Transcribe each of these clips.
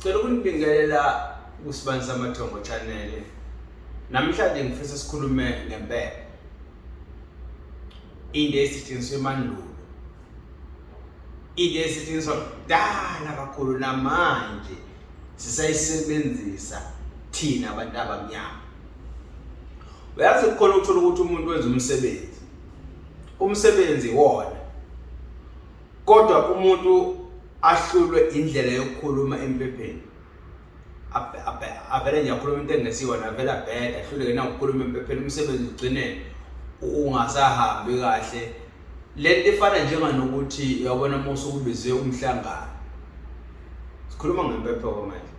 Sicela ukunibingelela kuSibani Samathongo Channel. Namhlanje ngifisa sikhulume ngempela. Into esetshenziswa emandulo. Into esetshenziswa kudala kakhulu namanje sisayisebenzisa thina abantu abamnyama. Uyazi kukhona ukuthola ukuthi umuntu wenza umsebenzi. Umsebenzi wona kodwa umuntu ahlulwe indlela yokukhuluma empepheni avele nje akhuluma into engesiyona avele abheda ahluleke nawukukhuluma empepheni umsebenzi ugcine ungasahambi kahle le nto ifana njenganokuthi uyabona uma usukubize umhlangano sikhuluma ngempepho-ke manje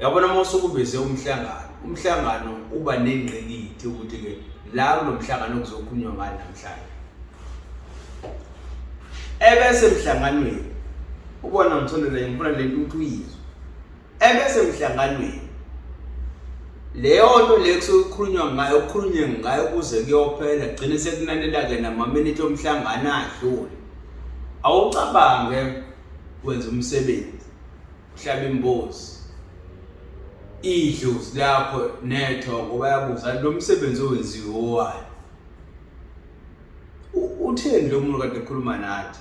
yabona uma usukubize umhlangano umhlangano uba nengqikithi ukuthi-ke la kulo mhlangano kuzokhulunywa ngani namhlanje ebesemhlanganweni ubona ngithondela ngifuna le nto ukuthi uyizwe ebesemhlanganweni leyo nto le kusukhulunywa ngayo kukhulunywe ngayo kuze kuyophela gcine sekunanela-ke namaminithi omhlangano adlule awucabange wenza umsebenzi hlaba imbozi idlozi lakho nethongo bayabuza lo msebenzi owenziwe owayo utheni lo muntu kade ekhuluma nathi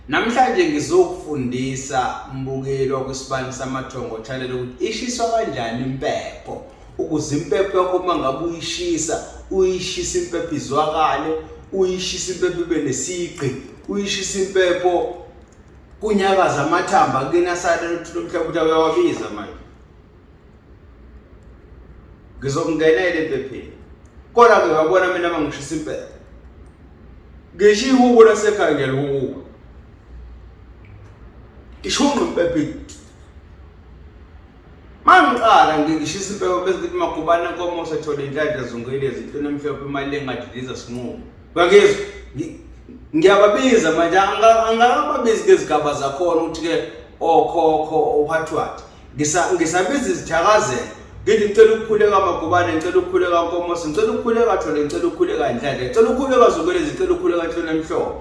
namhlanje ngizokufundisa mbukeli wakwisibani samathongo channel ukuthi ishiswa kanjani impepho ukuze impepho yakho uma ngabe uyishisa uyishisa impepho izwakale uyishisa impepho ibe nesigqi uyishisa impepho kunyakaza amathamba kuyena sale ukuthi lomhlaba ukuthi uyawabiza manje ngizokungenela empepheni kodwa ke wabona mina mangishisa impepho ngisho ihubo lasekhaya ngiyalihuba ishunqa impepho Mangiqala ngishisa impeko bese kuthi magubane inkomo sethola inhlanhla zungile ezintweni emhlophe imali engadiliza sinqumo. Ngakizwa ngiyababiza manje angakababizi ngezigaba zakhona ukuthi ke okhokho ophathwathi ngisabiza izithakazelo ngithi ngicela ukukhuleka magubane ngicela ukukhuleka nkomosi ngicela ukukhuleka thole ngicela ukukhuleka ndlale ngicela ukukhuleka zokwelezi ngicela ukukhuleka nhlonamhlophe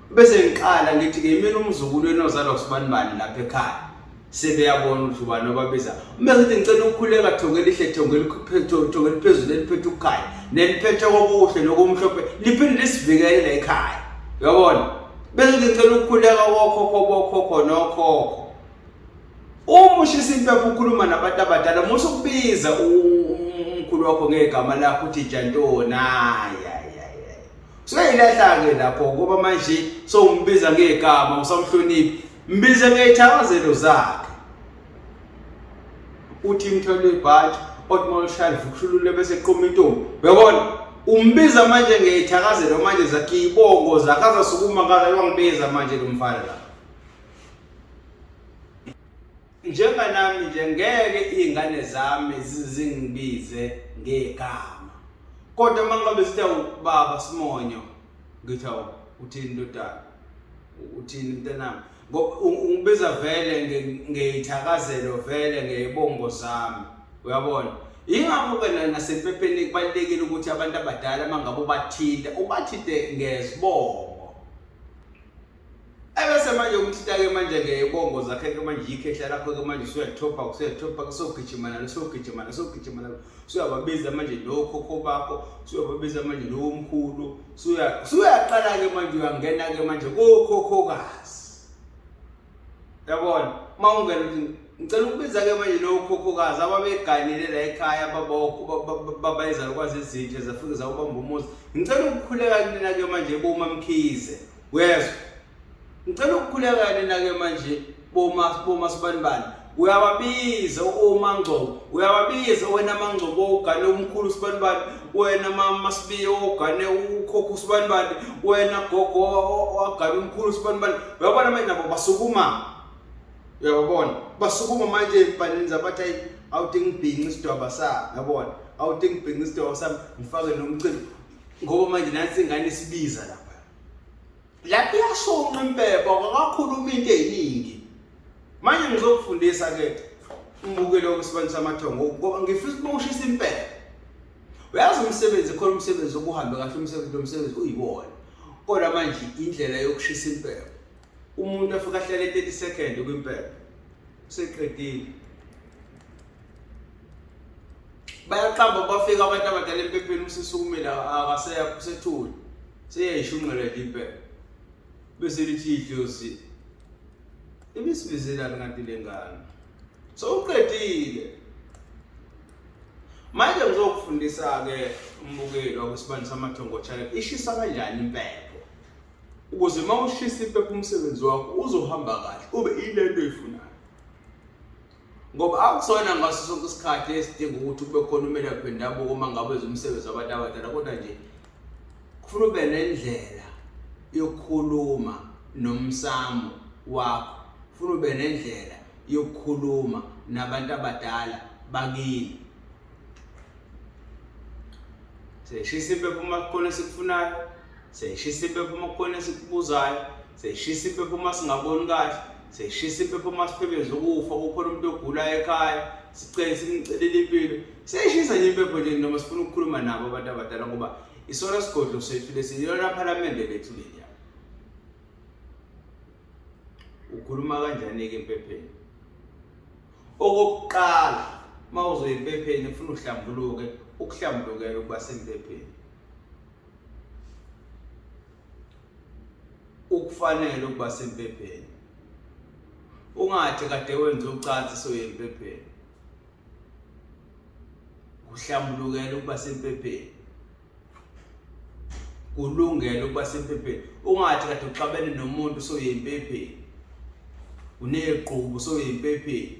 bese ngiqala ngithi-ke imina umzukulu enozalwa kusibanibani lapha ekhaya sebeyabona ukuthi ubani obabiza uma ngithi ngicela ukukhuleka thongelihle thongeliphezulu eliphethe ukukhaya neliphethe kokuhle nokumhlophe liphinde lisivikele la ekhaya uyabona bese ngithi ngicela ukukhuleka kokhokho bokhokho nokhokho uma ushisa impepha ukhuluma nabantu abadala musa ukubiza umkhulu wakho ngegama lakho uthi jantoni hayi Suyayilahla-ke lapho ngoba manje sowumbiza ngegama usamhloniphi mbize ngeyithakazelo zakhe uthi imthwalo ibhathi othi uma lushaya livukushulule bese qoma intombi uyabona umbiza manje ngeyithakazelo manje zakhe iy'bongo zakhe azasukuma ngala wangibiza manje lo mfana la Njenganami nje ngeke izingane zami zingibize ngegama. Kodwa uma ngabe sithe ubaba Simonyo ngithi awu uthini ndodana? Uthini mntanami? Ungibiza vele ngeyithakazelo vele ngeyibongo zami. Uyabona? Yingakho-ke nasempepheni kubalulekile ukuthi abantu abadala uma ngabe ubathinte ubathinte ngezibongo Ebese manje umthita-ke manje-ke ibongo zakhe-ke manje yikhehla lakho-ke manje usuyathopa usuyathopa kusogijima nalo usogijima nalo usogijima nalo usuyababiza manje nokhokho bakho usuyababiza manje nowomkhulu usuyaqala-ke manje uyangena-ke manje kokhokhokazi yabona uma ungena uthi ngicela ukubiza-ke manje lowokhokhokazi ababeganile la ekhaya babayizalukwazi ezintsha zafike zawubamba umuzi ngicela ukukhuleka kunina-ke manje bomamkhize uyezwa ngicela ukukhuleka nina ke manje boma boma sibanibani uyababiza omangcobo uyababiza wena mangcobo ogane umkhulu sibanibani wena mama sibiye ogane ukhokho sibanibani wena gogo wagane umkhulu sibanibani uyabona manje nabo basukuma uyababona basukuma manje ebhanini zabathi ayi awuthi ngibhinqi isidwaba sami uyabona awuthi ngibhinqi isidwaba sami ngifake nomcimbi ngoba manje nansi ingane isibiza lapha lapho iyashonqa impepho akakhuluma into eziningi manje ngizokufundisa ke umbukelo wesibani samathongo ngoba ngifisa ukuba ushisa impepho uyazi umsebenzi khona umsebenzi okuhambe kahle umsebenzi lomsebenzi uyiwona kodwa manje indlela yokushisa impepho umuntu afika ahlele 30 second kwimpepho seqedile bayaqamba bafika abantu abadala empepheni usisukumela akaseya kusethuli seyayishunqeleka impela bese lithi idlozi ibisibizelani kanti le ngane sowuqedile manje ngizokufundisa-ke umbukeli wakwesibani samathongo channel ishisa kanjani impepho ukuze uma ushisa impepho umsebenzi wakho uzohamba kahle ube ile nto oyifunayo ngoba akusona ngaso sonke isikhathi esidinga ukuthi kube khona umelaphi wendabuko uma ngabe umsebenzi wabantu abadala kodwa nje kufuna ube nendlela yokukhuluma nomsamo wakho funa ube nendlela yokukhuluma nabantu abadala bakini seyishisa impepho uma kukhona esikufunayo seyishisa impepho uma kukhona esikubuzayo seyishisa impepho uma singaboni kahle seyishisa impepho uma siphebeza ukufa kukhona umuntu ogulayo ekhaya sicele simcelele impilo seyishisa nje impepho nje noma sifuna ukukhuluma nabo abantu abadala ngoba isona sigodlo sethu lesi yilona phalamende lethu leli ukhuluma kanjani-ke empepheni okokuqala uma uzoya empepheni funa uhlambuluke ukuhlambulukela ukuba sempepheni ukufanele ukuba sempepheni ungathi kade wenza ucansi soye empepheni kuhlambulukela ukuba sempepheni kulungele ukuba sempepeni ungathi kade uxabene nomuntu soyempepeni uneqhubu soyempepeni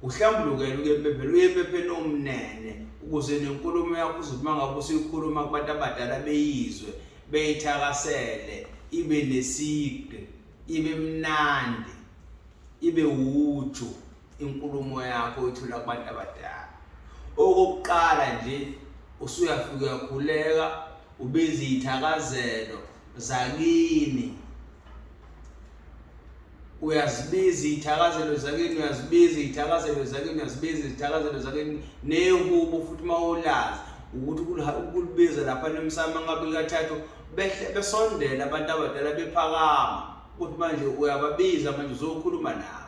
uhlambulukele ukempepeni uyempepeni omnene ukuze nenkulumo yakho uzothi uma ngabe usuyikhuluma kubantu abadala beyizwe beyithakasele ibe neside ibe mnandi ibe wuju inkulumo yakho uyithula kubantu abadala okokuqala nje usuyafika uyakhuleka ubiza iy'thakazelo zakini uyazibiza iy'thakazelo zakini uyazibiza iy'thakazelo zakini uyazibiza izithakazelo zakini nehubo futhi uma ulazi ukuthi ukulibiza lapha nemsamo ngabe kathathu behle besondela abantu abadala bephakama ukuthi manje uyababiza manje uzokhuluma nabo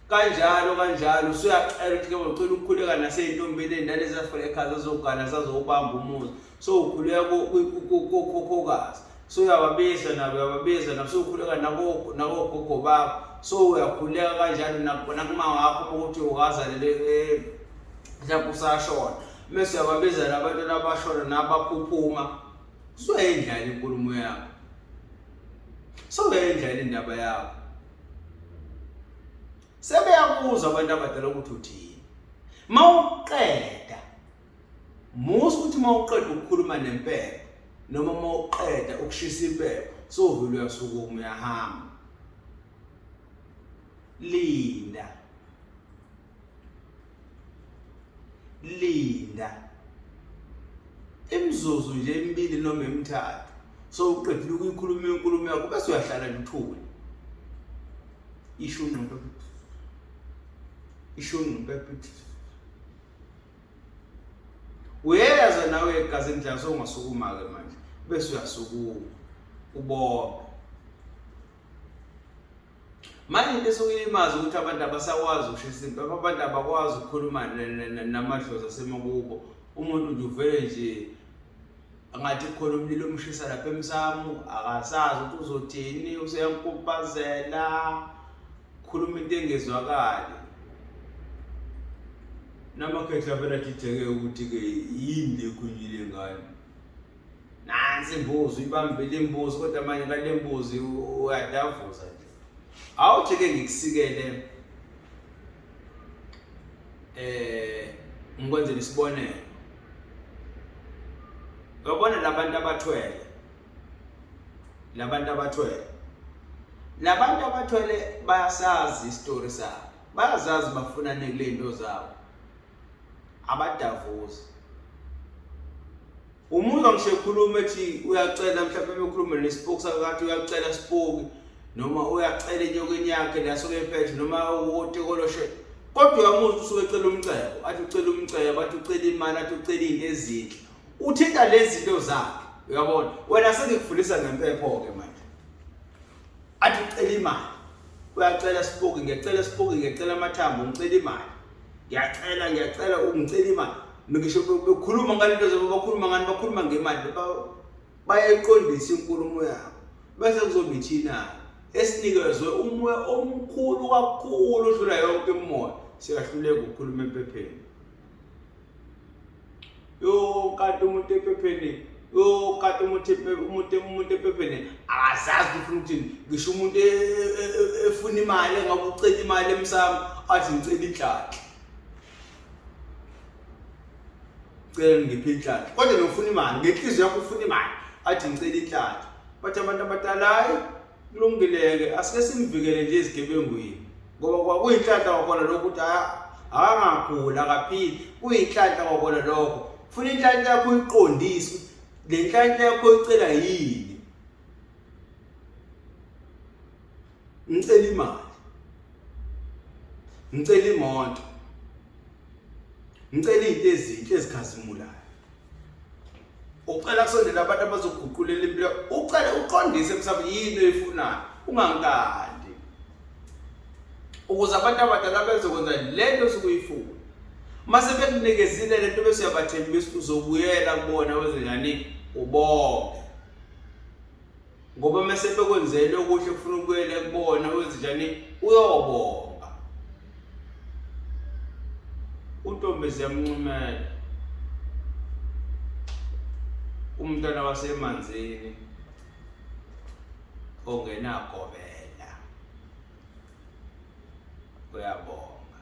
kanjalo kanjalo usuyacela ukuthi ke ucela ukukhuleka naseyintombeleni nalezi afela ekhaya zazogana zazowubamba umuzi so ukhuleka kokhokokazi so uyababiza nabo uyababiza nabo sowukhuleka nakogogo bakho so uyakhuleka kanjalo nakuma wakho ukuthi ukazalele eh, mhlawumbe usashona mese uyababiza nabantu nabashona nabaphuphuma soyayindlala inkulumo yakho soyayindlala indaba yakho sebeyabuza abantu abadala ukuthi uthini mawuqeda musa ukuthi mawuqeda ukukhuluma nempepho noma mawuqeda ukushisa impepho sovule uyasukuma uyahamba linda linda imizuzu nje emibili noma emithathu so uqedile ukuyikhuluma inkulumo yakho bese uyahlala lithule isho ungqondo isho ungqondo uyeza nawe egazi endlala sowungasukuma-ke manje bese uyasukuma ubona manje into esuke ilimaza ukuthi abantu abasakwazi ukusho isimpi abantu abakwazi ukukhuluma namadlozi asemakubo umuntu nje uvele nje angathi khona umlilo omshisa lapha emsamu akasazi ukuthi uzothini useyankupazela khuluma into engezwakali namakhehla vele ajijeke ukuthi-ke yini lekhunjile ngane nansi imbuzi uyibambile imbuzi kodwa manje ngale mbuzi uyadavuza nje awuthi ke ngikusikele eh ngikwenzela isibonelo uyabona labantu abathwele labantu abathwele labantu abathwele bayasazi isitori sabo bayazazi bafuna nekulento zabo abadavuzi umuzwa ngisho ekhuluma ethi uyacela mhlawumbe bekhulume nespoki sakho kathi uyacela spoki noma uyacela enyokeni yakhe lasuke ephethe noma uwotekoloshe kodwa uyamuzi usuke ecela umcebo athi ucela umcebo athi ucela imali athi ucela izinto ezinhle uthinta lezi zinto zakhe uyabona wena sengikufundisa ngempepho ke manje athi ucela imali uyacela sipoki ngiyacela sipoki ngiyacela amathambo ngicela imali ngiyacela ngiyacela ungicela imali ngisho bekhuluma ngalento zoba bakhuluma ngani bakhuluma ngemali bayayiqondisa inkulumo yabo bese kuzoba ithina esinikezwe umoya omkhulu kakhulu odlula yonke imimoya siyahluleka ukukhuluma empepheni Yo kati umuntu ephepheni yo kati umuntu umuntu umuntu ephepheni akazazi ufuna ukuthi ngisho umuntu e, e, e, efuna imali engabe ucela imali emsamo athi ngicela idlakhe cela ngiphe idlakhe kodwa nofuna imali ngenhliziyo yakho ufuna imali athi ngicela idlakhe bathi abantu abadala hayi kulungile-ke asike simvikele nje ezigebengwini ngoba kwakuyinhlanhla kwakhona lokho ukuthi akangaguli akaphili kuyinhlanhla kwakhona lokho funa inhlanhla yakho uyiqondise le nhlanhla yakho icela yini ngicela imali ngicela imoto ngicela izinto ezinhle ezikhazimulayo ucela kusondela abantu abazoguqulela impilo ucele uqondise mhlawumbe yini oyifunayo ungangikandi ukuze abantu abadala bezokwenza le nto osuke uyifuna uma sebekunikezile le nto bese uyabathembisa uzobuyela kubona wezenjani ubonge ngoba uma sebekwenzele okuhle kufuna ukuyela kubona wenze njani uyobonga untombi ziyamncumela umntwana wasemanzini ongenagobela uyabonga